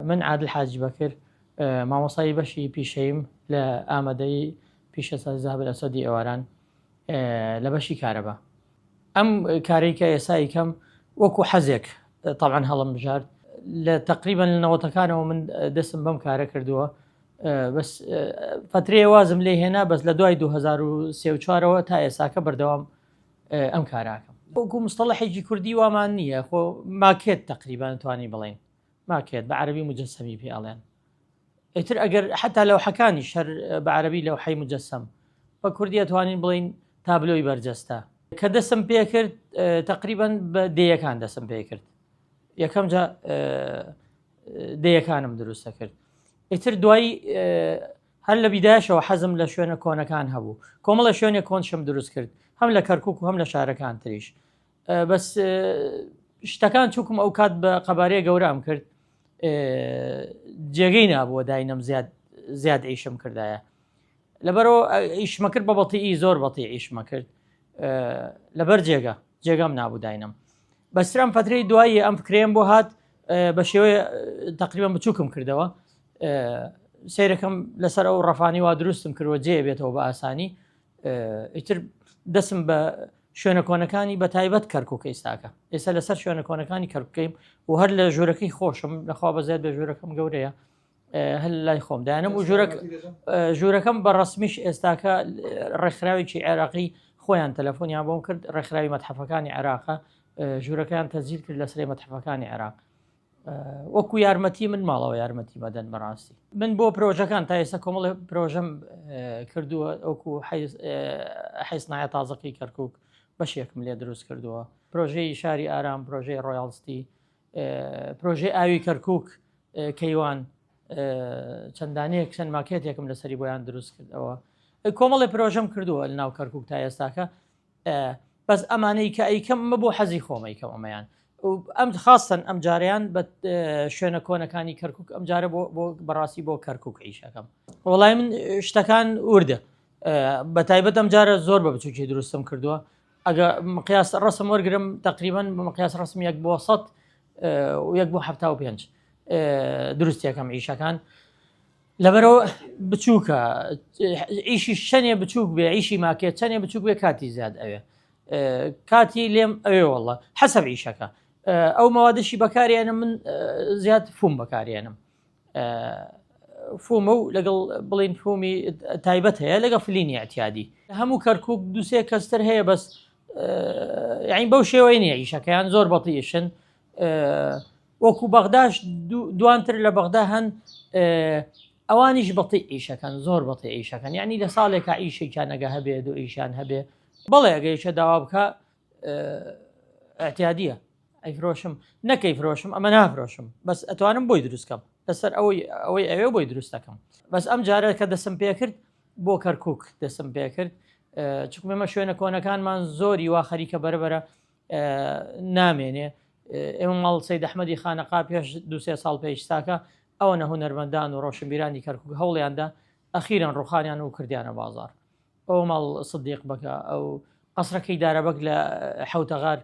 من عادل حاجی بەکر مامۆستای بەشی پیشەیم لە ئامادەی پیشەسازی زابل ئەسەدی ئێواران لە بەشی کارەبا ئەم کارێک کە ئێسایی کەم وەکو حەزێک تاوان هەڵم بژارد لە تقریبان لە نەوەتەکانەوە من دەستم بەم کارە کردووە بەس فترێ وازم لێ هێنا بەس لە دوای 2024ەوە تا ئێساکە بەردەوام ئەم کاراکەم وەکو مستەڵەحێکی کوردی وامان نییە خۆ ماکێت تقریبان توانی بڵین ماکێت بە عەرەبی موجەسەمی پێ ئەڵێن ئیتر ئەگەر حتا لەوحەکانیش هەر بە عەرەبی لەوحەی موجەسەم بە کوردی ئەتوانین بڵین تابلۆی بەرجەستە کە دەسم پێکرد تقریبا بە دەیەکان دەسم پێکرد یەکەم جا دەیەکانم دروستە کرد ئیتر دوایی هەر لە بیداشەوە حەزم لە شوێنە کۆنەکان هەبوو کۆمەڵە شوێنێک کۆنشم دروست کرد هەم لە کەرکک و هەم لە شارەکان تریش بەس شتەکان چووکم ئەو کات بە قەبارەیە گەورام کرد جێگەی نابووە داینم زیاد زیاد ئیشم کردایە لەبەرەوە ئیشمەکرد بە بەڵتیئی زۆر بەڵتی ئیشمە کرد لەبەر جێگە جێگەم نابوو داینم بەسرم فتری دوایی ئەم فکرێن بۆ هات بە شێوەیە تقریبم بچووکم کردەوە سیرەکەم لەسەر ئەو ڕەفانی وا دروستم کردوە جێ بێتەوە بە ئاسانی ئیتر دەسم بە شوێنە کۆنەکانی بە تایبەت کەرکک ئێستاکە ئێستا لەسەر شوێنە کۆنەکانی کەرکەیم و هەر لە ژوورەکەی خۆشم لەخوا بەزێت بە ژوورەکەم گەورەیە هەل لای خۆم دایانم و ژوورەک ژوورەکەم بە ڕسمیش ئێستاکە ڕێکخراوێکی عێراقی خۆیان تەلەفۆنیان بۆم کرد ڕێکخراوی مەتحەفەکانی عێراقە ژوورەکەیان تەزیل کرد لە سرێ مەتحەفەکانی عێراق وەکو یارمەتی من ماڵەوە یارمەتی مەدەن بەڕاستی من بۆ پرۆژەکان تا ئێستا کۆمەڵ پرۆژەم کردووە ئەوکو حیسنایە تازەقی کەرکک بەشێکم لێ دروست کردووە پرۆژەی شاری ئارام پرۆژەی ڕۆیاڵستی پرۆژەی ئاوی کەرکک کەیوان چەندانەیە چەند ماکێتێکم لەسەری بۆیان دروست کردەوە کۆمەڵی پرۆژەم کردووە لە ناو کەرکک تا ئێستاکە بەس ئەمانەی کە ئەیکەم ئەمە بۆ حەزی خۆم ئەیکەم ئەمەیان ئەم خاستن ئەم جاریان بە شوێنە کۆنەکانی کەرکک ئەم جارە بۆ بەڕاستی بۆ کەرکک عیشەکەم وڵای من شتەکان وردە بە تایبەت ئەم جارە زۆر بە بچوکی دروستم کردووە ئەگە مقیاس ڕسم وەرگرم تقریبان بە مقیاس ڕسم یەک بۆ سە یەک بۆ ه پێ دروستەکەم عیشەکان لەبەرەوە بچووکە ئیشی شەنێ بچووک بێ ئیشی ماکێ چەنێ بچووک بێ کاتی زیاد ئەوێ کاتی لێم ئەوێ وڵە حەسەب ئیشەکە ئەو مەوادەشی بەکارێنم من زیاد فوم بەکارێنم فۆمە و لەگەڵ بڵین فۆمی تایبەت هەیە لەگە فلینی ئەتیادی هەموو کەرکک دوسێ کەستەر هەیە بەس یعنی بەو شێوەی نیە ئیشەکەیان زۆر بەڵیشن وەکو بەغداش دوانتر لە بەغدا هەن ئەوانیش بەڵی ئیشەکەن زۆر بەڵی ئیشەکەن ینی لە ساڵێکە ئیشێکیان نەگە هەبێ دو ئیشان هەبێ بەڵێ ئەگەیشە داوا بکە ئەتیادیە ئەیفرۆشم نەکەی فرۆشم ئەمە نافرۆشم بەس ئەتوانم بۆی دروستکەم لەسەر ئەوەی ئەوەی ئەوێ بۆی دروستەکەم بەس ئەم جارە کە دەسم پێکرد بۆ کەرکک دەسم پێکرد چکممە شوێنە کۆنەکانمان زۆری وا خەریکە بەرەبەرە نامێنێ ئێمە ماڵ سید ئەحمەدی خانەقا پێش دوسێ ساڵ پێیشتاکە ئەوە نە هونەرمەندان و ڕۆشنبیرانی کەرکک هەوڵیاندا ئەخیران ڕوخانیان و کردیانە بازار ئەو ماڵ سدیق بەکە ئەو قەسرەکەی دارەبەک لە حوتەغار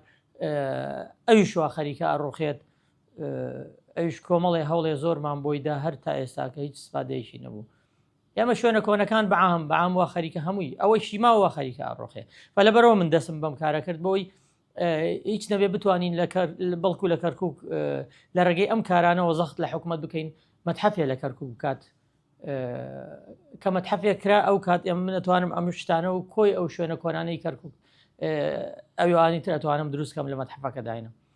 ئەوی شووا خەریکە ئەڕوخێت ئەوش کۆمەڵێ هەوڵێ زۆرمان بۆیدا هەر تا ئێستاکە هیچ سپادەیەکی نەبوو ئێمە شوێنە کۆنەکان بەعام بەعام وا خەریکە هەمووی ئەوەی شیما وا خەریکە ئەڕۆخێ بە لەبەرەوە من دەسم بەم کارە کرد بۆی هیچ نەبێ بتوانین لە بەڵکو لە کەرکک لە ڕێگەی ئەم کارانەوە زەخت لە حکوومەت بکەین مەتحەفێ لە کەرکک بکات کە مەتحەفێ کرا ئەو کات ئێمە منەتوانم ئەم شتانە و کۆی ئەو شوێنە کۆنانەی کەرکک ئەوانی ترەتوانم دروستکەم لە مەتحەفەکە داینم